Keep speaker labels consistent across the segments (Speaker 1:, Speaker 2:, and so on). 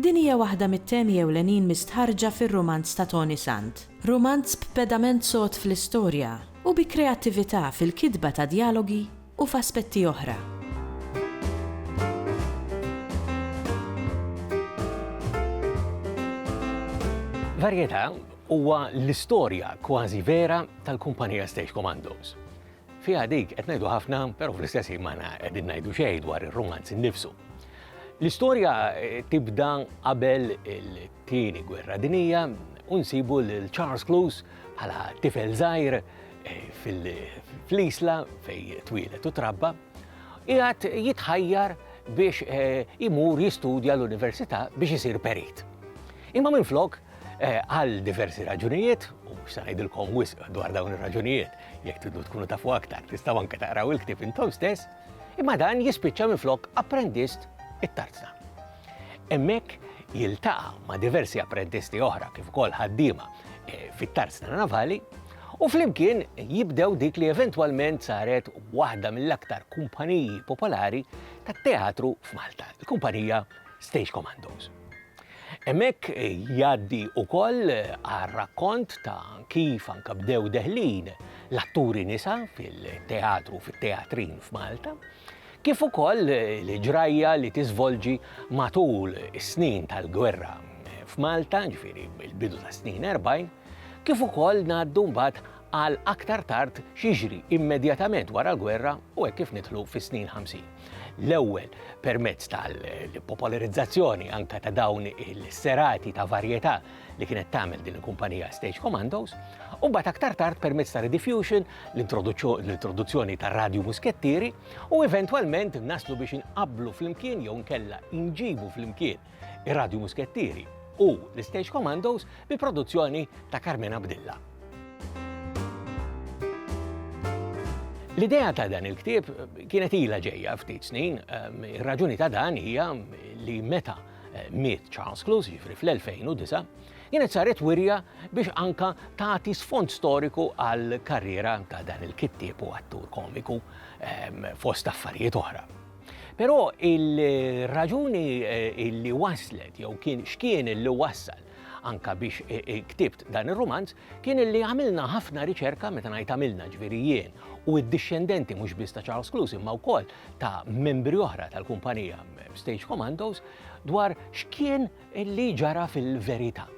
Speaker 1: Din hija waħda mit-temi ewlenin mistħarrġa fir-rumanz ta' Toni Sant. Rumanz b'pedament sod fl-istorja u bi kreattività fil-kitba ta' djalogi u f'aspetti oħra.
Speaker 2: Varjetà huwa l-istorja kważi vera tal-kumpanija Stage Commandos. Fiha dik qed ngħidu ħafna, però fl-istess ħin m'aħna qegħdin ngħidu xejn dwar ir-rumanz innifsu. L-istorja eh, tibda qabel il-tieni gwerra dinija u nsibu lil Charles Cluse bħala tifel żgħir eh, fl-isla fej twilet u trabba, jgħat jitħajjar biex eh, imur jistudja l-università biex isir perit. Imma minn flok, għal diversi raġunijiet, u xsanajdilkom wisq dwar dawn ir-raġunijiet, Jekk tridu tkunu tafu aktar, tistgħu anke taqraw il-ktieb intom stess, imma dan jispiċċa minflok apprendist it-tarzna. Hemmhekk jiltaqa' ma' diversi apprendisti oħra kif ukoll ħaddiema eh, fit-tarzna navali u flimkien jibdew dik li eventwalment saret waħda mill-aktar kumpaniji popolari tat-teatru f'Malta, il-kumpanija Stage Commandos. Hemmhekk jgħaddi wkoll għar-rakkont ta' kif anke bdew deħlin l-atturi nisa fil-teatru fit-teatrin f'Malta, kif ukoll l-ġrajja li tiżvolġi matul is-snin tal-gwerra f'Malta, ġifieri mill-bidu tas-snin 40, kif ukoll ngħaddu mbagħad għal aktar tard x'jiġri immedjatament wara l-gwerra u hekk kif nidħlu fis-snin 50. L-ewwel permezz tal-popolarizzazzjoni anke ta' dawn il-serati ta' varjetà li kienet tagħmel din il-kumpanija Stage Commandos, u mbagħad aktar tard permezz ta' Rediffusion, l-introduzzjoni ta' radju muskettieri u eventwalment naslu biex inqablu flimkien jew nkella inġibu flimkien ir-Radju Muskettieri u l-Stage Commandos bi produzzjoni ta' Carmen Abdilla. L-idea ta' dan il-ktieb kienet ila ġejja ftit snin, ehm, ir-raġuni ta' dan hija li meta eh, miet Charles Cluse, ġifri fl-2009, kienet saret wirja biex anka tagħti sfond storiku għal karriera ta' dan il-kittieb u attur komiku ehm, fost affarijiet oħra. Però il-raġuni li waslet jew kien x'kien li wassal anka biex e, e, ktibt dan ir-rumanz kien li għamilna ħafna riċerka meta ngħid għamilna ġifieri jien u d-dixxendenti mhux biss ta' Charles Clues imma wkoll ta' membri oħra tal-kumpanija Stage Commandos dwar x'kien Li ġara fil-verità.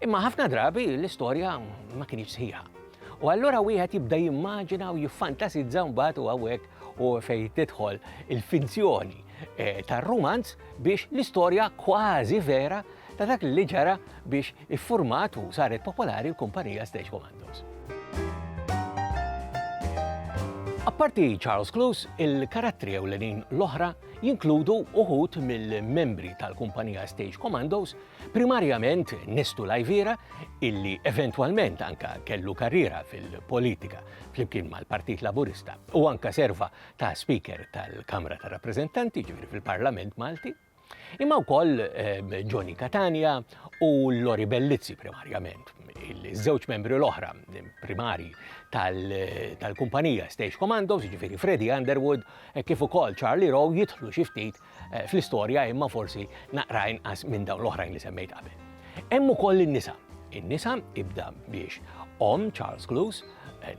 Speaker 2: Imma ħafna drabi l-istorja ma kinitx sħiħa. U allura wieħed jibda jimmaġina u jiffantasizza mbagħad u hawnhekk u fejn tidħol il-finzjoni eh, tar-rumanz biex l-istorja kważi vera ta' dak li ġara biex iffurmat u saret popolari l-kumpanija Stage Commandos. Apparti Charles Cluse, il-karattri ewlenin l-oħra jinkludu uħud mill-membri tal-kumpanija Stage Commandos, primarjament Nestu Lajvira, illi eventwalment anka kellu karriera fil-politika flimkien mal-Partit Laburista u anka serva ta' Speaker tal-Kamra ta' Rappreżentanti ġifieri fil-Parlament Malti, imma wkoll ehm, Johnny Catania u Lori Bellizzi primarjament, il-żewġ membri l-oħra primari tal-kumpanija Stage Commandos, ġifieri Freddy Underwood hekk kif ukoll Charlie Rowe jidħlu xi ftit fl-istorja imma forsi naqra inqas minn dawn l-oħrajn li semmejt qabel. Hemm ukoll in-nisa. In-nisa ibda biex omm Charles Cluse,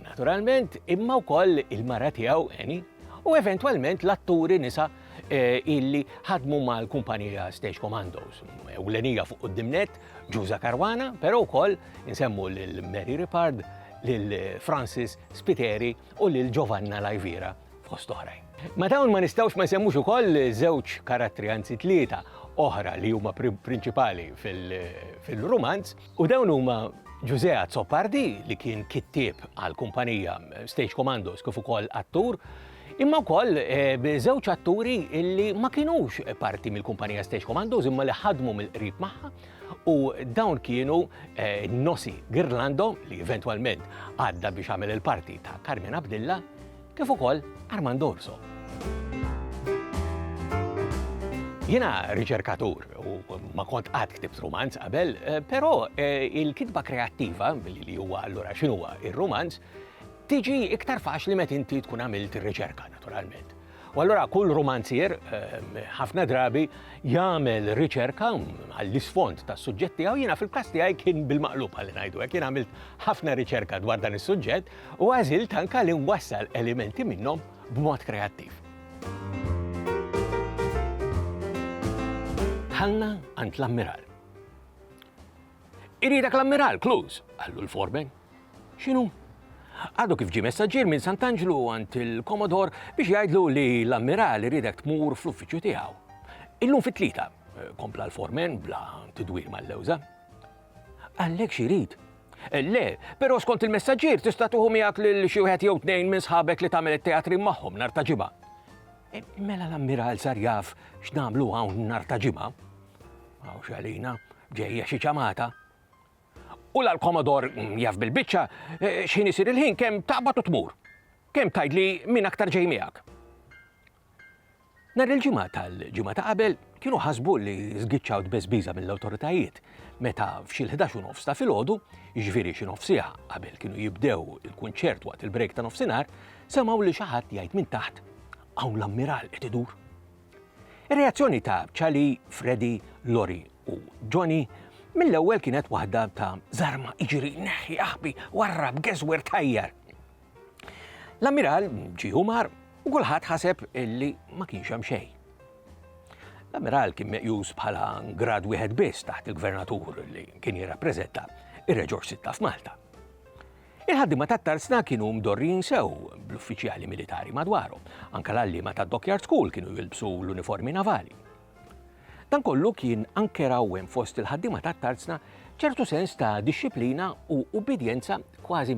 Speaker 2: naturalment, imma wkoll il-mara tiegħu Annie, u eventwalment l-atturi nisa eh, illi ħadmu mal-kumpanija Stage Commandos. Ewlenija fuq id-dimnet, Ġuża Karwana, però wkoll insemmu lil Mary Ripard, lil Francis Spiteri u lil Giovanna Lajvira fost oħrajn. Ma dawn ma nistgħux ma nsemmux ukoll żewġ karattri anzi tlieta oħra li huma prinċipali fil-romanz u dawn huma Ġużea Zoppardi li kien kittieb għal kumpanija Stage Commandos kif ukoll attur, imma wkoll eh, żewġ atturi li ma kinux parti mill-kumpanija Stage Commandos imma li ħadmu mill-qrib magħha u dawn kienu eh, Nosi Girlando li eventwalment għadda biex għamel il-parti ta' Carmen Abdilla kif ukoll Armando Urso. Jiena riċerkatur u ma kont qatt ktibt rumanz qabel, eh, però eh, il-kitba kreattiva, li huwa allura x'inhuwa ir-rumanz, tiġi iktar faċli meta inti tkun għamilt ir-riċerka naturalment. U allura kull romanzier ehm, ħafna drabi jagħmel riċerka għall-isfond tas suġġett tiegħu jiena fil-każ tiegħi kien bil-maqlub għal ngħidu hekk jien għamilt ħafna riċerka dwar dan is-suġġett u għażilt anke li nwassal elementi minnhom b'mod kreattiv. Dħalna għand l-ammiral. Iridek l-ammiral, Kluz, għallu l-formen. Xinu? Għadu kif ġi messaġġier minn Sant'Anġlu għand il-Komodor biex jgħidlu li l-ammiral iridek tmur fl-uffiċċju tiegħu. Illum fit-tlieta, eh, kompla l-formen bla tidwir mal-lewża. Għallek xirid, Le, però skont il-messaġġier tista' tieħu miegħek lil xi wieħed jew tnejn minn sħabek li tagħmel it-teatrin magħhom nhar ta' Ġimgħa. E, mela l-ammiral sar jaf x'nagħmlu hawn nhar ta' Ġimgħa. Hawn xalina, ġejja xi ċamata. U l-komodor mm, jaf bil-biċċa e, x'ħin isir il-ħin kemm taqbad u tmur. Kemm tgħidli min aktar ġej miegħek. Nhar il-Ġimgħa tal-ġimgħa ta' qabel kienu ħasbu li żgiċċaw tbeżbiża mill-awtoritajiet meta f'xi l-ħdax u nofs ta' filgħodu, jiġifieri xi nofsiegħa qabel kienu jibdew il-kunċert waqt il-break ta' nofsinhar, semgħu lil xi ħadd jgħid minn taħt, Hawn l-Ammiral qed idur! Ir-reazzjoni ta' Charlie, Freddy, Lori u Johnny mill-ewwel kienet waħda ta' żarma iġri, neħħi, aħbi, warrab, geżwer, tajjar. L-ammiral ġie u mar u kulħadd ħaseb li ma kienx hemm xejn. L-ammiral kien meqjus bħala grad wieħed biss taħt il-gvernatur li kien jirrappreżenta ir-reġor sitta f'Malta. Il-ħaddima tat tarsna kienu mdorrin sew bl-uffiċjali militari madwarhom, anka l-għallima tad Dockyard School kienu jilbsu l-uniformi navali. Dan kollu kien anke rawwem fost il-ħaddima tat tarzna ċertu sens ta' disċiplina u ubbidjenza kważi